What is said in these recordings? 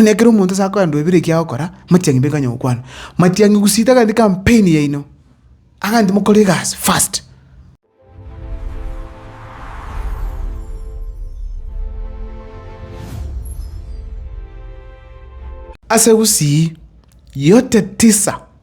Onye ekero omonto ase akorandwa ebire ekiya agokora, amatiang'i mbe kanya gokwana. Matiang'i gusita agati campaign yaino, aganti mokore egasi fast. Ase gusii yote tisa.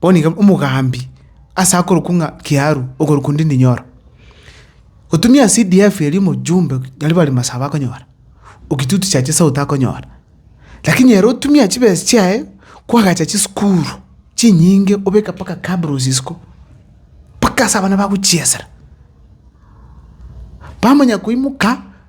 Bono iga omogambi ase akorokwa ng'a Kiaru, okorokwa onde Ndinyoro, gotumia ase EDF eria omojumbe naria bare Masaba akonyora, o Kitutu Chache South akonyora. Lakini ere otumia chibesa chiaye kwagacha chisukuru chinyinge obeka mpaka Kabruz isiko, mpaka ase abana bagochiesera. Bamanya koimoka.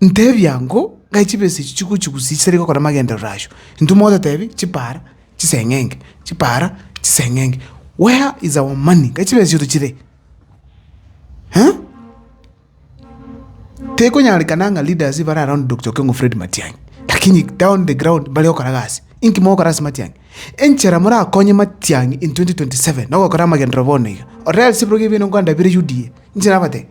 Ntebia ng'o, ng'ai chibesa echi chigochigusia chitari gokora amagenderero ayio? Intwe mogototebi, chipara chiseng'enge, chipara chiseng'enge. Where is our money? Ng'ai chibesa echi tochire? Eeh? Tekonyarekana ng'a leaders bare around Doctor Okengo Fred Matiang'i, lakini down the ground mbare gokora gasi. Inki mogokora ase Matiang'i? Enchera morakonye Matiang'i in 2027 nogokora amagenderero bono iga, or else ebirogo ebi bino nkwandabire UDA, inche nabatebi.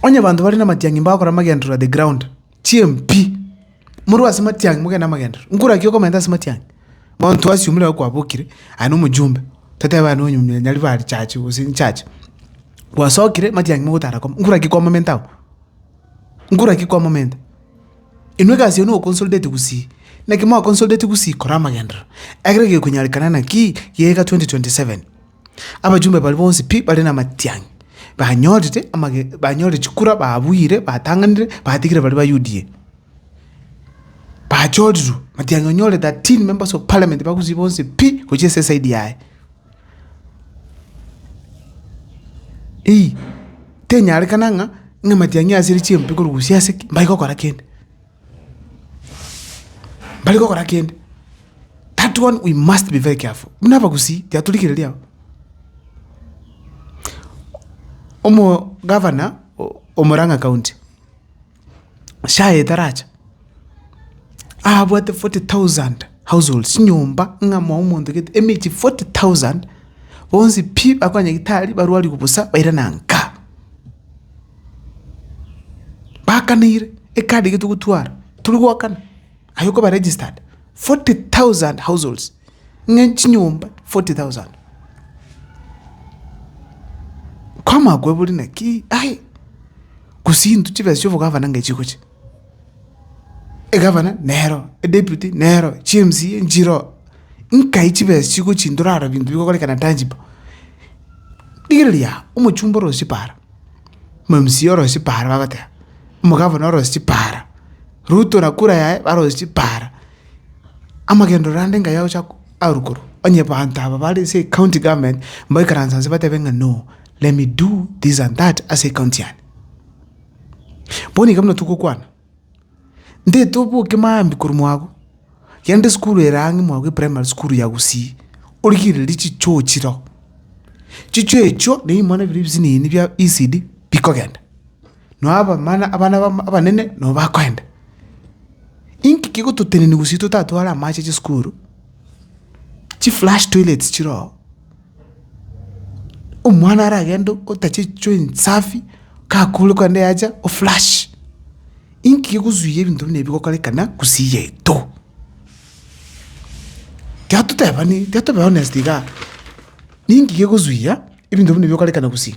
Onye abanto bare namatiang'i mbagokora amagenderero at the ground, chiempi, morwe ase matiang'i mogende amagenderero, nkore naki okomenta ase matiang'i? Bono intwe assume nabo kwabokire, aye na omojumbe, totebe aye nonyari bare church gose inchurch, gwasokire matiang'i mogotara koma, nkore naki kwamomenta abwo? Nkore naki kwamomenta? Inwe egasi yaino goconsolidate gusii? Naki mwaconsolidate gusii kora amagenderero, ekiagera gekonyarekana naki geika 2027. Abachumbe baria bonsi pi bare namatiang'i, banyorire amage banyorire chikura, babuire, batang'anire, batigire baria ba UDA. Bachorirwe, matiang'i onyore 13 members of parliament ba gusii bonsi pi, gochia ase esaidi yaye. Eeh, tenyarekana ng'a ng'a amatiang'i ase ere chimpe korusia ase ki, mbari gokora kende, mbari gokora kende, that one we must be very careful buna abagusii tiatorigereria abwo. Omo gavana o- o murang'a county. SHA etaracha, abwate forty thousand households, chinyomba ng'a mwa omonto gete emechie forty thousand, bonsi pi bakoa nyagitari barwariwe bosa baire na nka. Bakaneire, ekadi iga togotwara, tori goakana. aye okoba registered 40,000 households ng'a chinyomba 40,000 kwamanya kwebori naki ai gose intwe chibesa chia obogavana ng'a chigocha egavana nero edeputy nero chimca nchiroo nkai chibesa chigochia ndorarora binto bigokorekana tangible rigereria omochumba orosie para. Mamsie orosie chipara bagoteba, omogavana orosie chipara, Ruto na kura yaye barosie chipara. Amagenderero ande nkayo agocha ko aru korwa, onye abanto aba bare ase ecounty government mbaikaranse nse batebe ng'a no, let me do this and that ase ecounty yane. Bono iga buna togokwana. Ntaete oboke maambia korwa agwo, genda esukuru ere ang'e mwago eprimary sukuru ya gusii, origererie chichoo chire oo. Chichoo echio nigo bimwana biria ebisinini bia ECD bikogenda. Nao abamana abana bamo abanene nabo bakoenda. Inki kegototenenia gusii totatware amache chisukuru, chiflash toilets chire oo. Omwana aragende otache choo ensafi, kakure kande yacha o flush. Inki gegosuia ebinto buna ebi gokorekana gusii yaito? Tiga totebani tiga tobe honest igaa, ninki gegosuia ebinto buna ebi gokorekana gusii?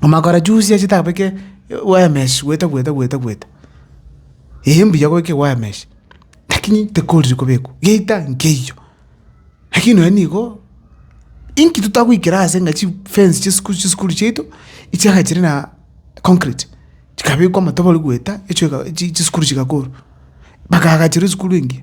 Amakara chusi ase tabeke wire mesh gweta gweta gweta gweta. Eeh mbuya goika wire mesh, lakini tekorire kobekwa, geita nkeiyo. Lakini nonya nigo, inki totagoikera ase ng'a chifence chisuku chisukuru chiaito, echianga chire na concrete, chikabekwa amatoboro gweta, echoka chi chisukuru chigakorwa, bagaga chire esukuru engiya.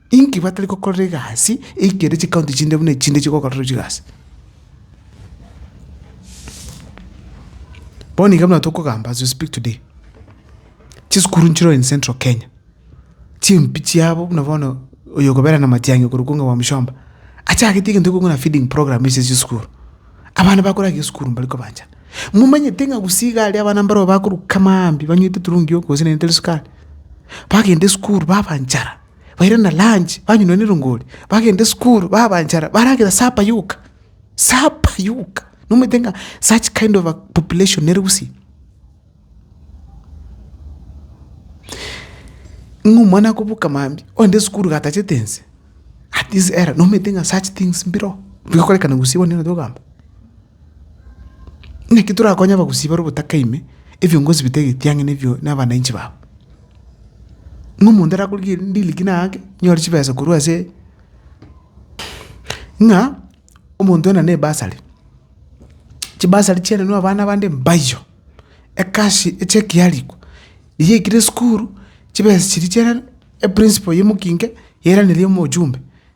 Inki batari gokorera egasi eike ere chikaunti chinde buna echinde chigokorerwa chigasi? Bono iga buna tokogamba as we speak today, chisukuru nchireo in central Kenya, chimpi chiabo buna bono oyo okobera na matiang'i okorokwa ng'a Bwamushomba, achagete egento ekong'u na feeding program ase chisukuru. Abana bakorenge esukuru mbari kobanchana. Momanyete ng'a gusii iga aria abana mbareo bakorwa kama mambia banywete turungi yoko gose nere tari sukari, bagenda esukuru babanchara, baire na lunch, banywa na erongori, bagenda esukuru, baba enchara, baragera sapa yoka. Sapa yoka. Nomanyete ng'a such kind of a population nere gusii. Ng'a omwana akobuka mambia, ogende esukuru iga atachete ense, at this era, nomanyete ng'a such things mbiroo, bigokorekana gusii bono nigo nataka kogamba. Naki torakonye abagusii bare obotaka ime, ebiongozi bita egetiang'ina ebio na abananchi babo. Ng'a omonto arakore ki ririkina aake, nyore chibesa korwa ase ng'a omonto ena ne bursary, chibasari chiarenwa abana bande mbayiyo, ekasi echeki yarikwa, eyio ekire esukuru, chibesa chiria chiarerwa, eprincipo ya omokinke yairaneri omochumbe.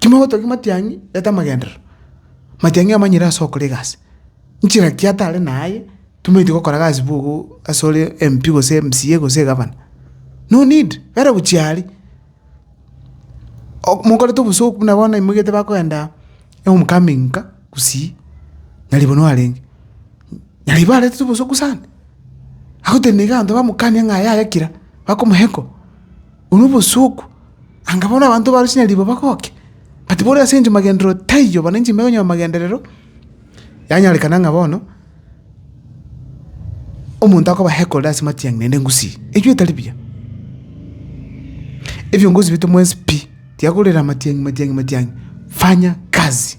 Timogotogia matiang'i leta amagenderero, matiang'i amanyire ase okora egasi, nchera ki atare naye tomaeti gokora gasi bogo ase ore MP gose MCA gose egavana, no need bera gochia aria. Ok mokorete obosooku buna bono imogete bakoenda home coming nka gusii, nyaribano arenge, nyaribo arentete obosooku sana, agotenena iga abanto bamokania ng'a yaya kira, bakomoheko. Onwe obosuku, anga bono abanto baaro chinyaribo bagoke, bati bore ase ense magenderero taiyo, bono ense ime ekonyora magenderero. Yanyarekana ng'a bono omonto akoba hekorire ase matiang'i naende ngusii, eyio etari buya. Ebiongozi bito mwensi pi, tiga korera amatiang'i matiang'i matiang'i, fanya kazi.